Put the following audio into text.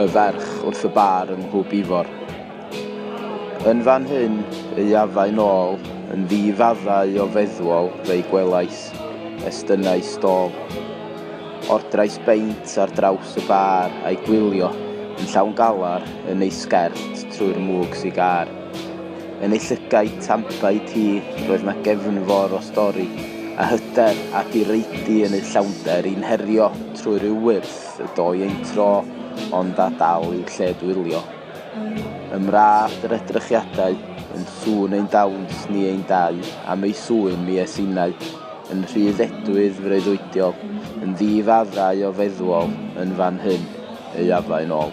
y ferch wrth y bar yn Nhŵp Ifor. Yn fan hyn y afai nôl, yn ddi-faddau o feddwol fe'i gwelais, estynnai stôl. Ordrais beint ar draws y bar a'i gwylio yn llawn galar yn ei sgert trwy'r mwg sigar. Yn ei llygaid tanbaid hi roedd 'na gefnfor o stori, a hyder a direidi yn ei llawnder i'n herio trwy ryw wyrth y doi ein tro, ond â dal i'w lled-wylio. Ym mra all yr edrychiadau, yn sŵn ein dawns ni ein dau, am ei sŵyn mi es innau, yn rhydd edwydd freuddwydiol, yn ddi-faddau o feddwol, yn fan hyn, ei afain ôl.